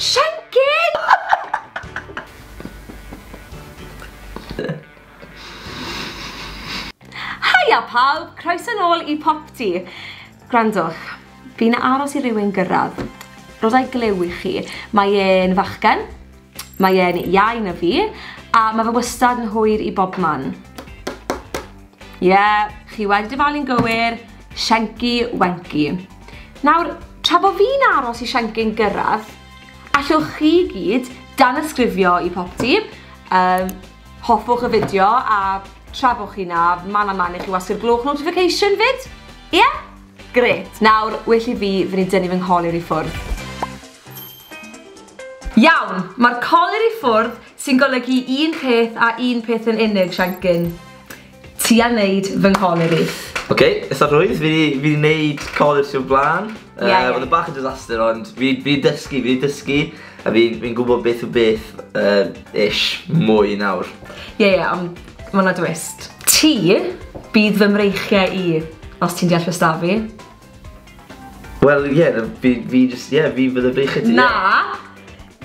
Shankin! Haia pawb, croeso nôl i Popty. Gwrandwch, fi'n aros i rywun gyrraedd. Rodau glyw i chi. Mae e'n fachgen, mae e'n iau na fi, a mae fe wastad yn hwyr i bobman. Ie, chi wedi dyfalu'n gywir, Shenki Wenki. Nawr, tra bod fi'n aros i Shenki'n gyrraedd, allwch chi gyd danysgrifio i popty, um, hoffwch y fideo a tra bod chi na, man a man i chi wasgu'r gloch notification fyd? Ie? Yeah? Gret, nawr, well i fi fynd i dynnu fy ngholir i ffwrdd. Iawn, mae'r colir i ffwrdd Sy'n golygu un peth a un peth yn unig, Siencyn. Ti a neud fy ngholur i. Ok, itha rhwydd, fi 'di, fi 'di neud colur ti o'r bla'n. Ie, ie. Yy, odd e bach yn disaster ond fi, fi 'di dysgu, fi 'di dysgu, a fi, fi'n gwbod beth yw beth, yy, ish, mwy nawr. Ie, ie, ond ma' 'na dwist. Ti bydd fy mreichie i, os ti'n deall be' s'da fi. Wel ie, yeah, fi, fi just, ie, yeah, fi fydd y beichio ti. Na!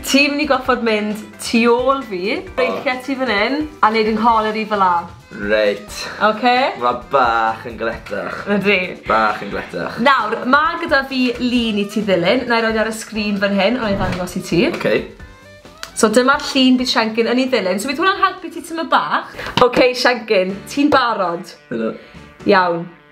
Ti'n mynd i goffod mynd tu ôl fi, beichio ti fan hyn, a neud yng ngholer i fel la. Reit. Oce? Mae bach yn gletach. Ydy. Bach yn gletach. Nawr, mae gyda fi lun i ti ddilyn, na i roed ar y sgrin fan hyn, ond i ddangos i ti. Oce. So dyma'r llun bydd Siancyn yn ei ddilyn. So bydd hwnna'n helpu ti tyma bach. Oce, Siancyn, ti'n barod? Helo. Iawn.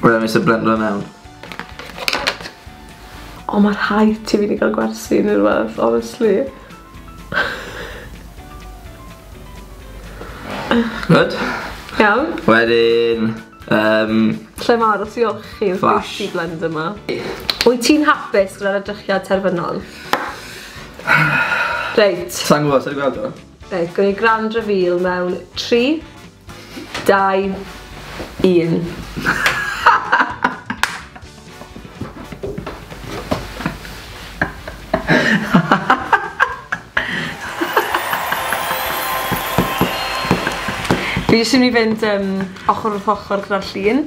Wel, nes y blender mewn. O, mae rhaid ti fi wedi cael gwersi neu rhywbeth, honestly. Good. Iawn. Wedyn, um... Lle mae aros i olchi yn Flash. Flash. blend yma. Wyt ti'n hapus gyda'r edrychiad terfynol? Reit. Sa'n gwybod, sa'n gwybod? Reit, gawn ni grand reveal mewn 3, 2, 1. Fi jyst yn mynd i fynd yym ochr wrth ochr gyda'r llun.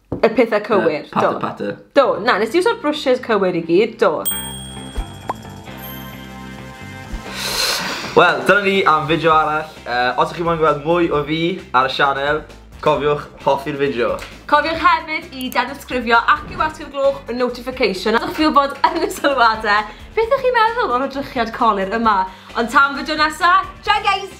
Y pethau cywir, do. Patter, patter. Do, na, nes ti uso'r brwshes cywir i gyd, do. Wel, dyna ni am fideo arall. Uh, os ydych chi'n mwyn gweld mwy o fi ar y sianel, cofiwch hoffi'r fideo. Cofiwch hefyd i danysgrifio ac i wasgu'r gloch y notification. Ydych chi'n bod yn y sylwadau, beth ydych chi'n meddwl o'r odrychiad colir yma? Ond tan fideo nesaf, ciao guys!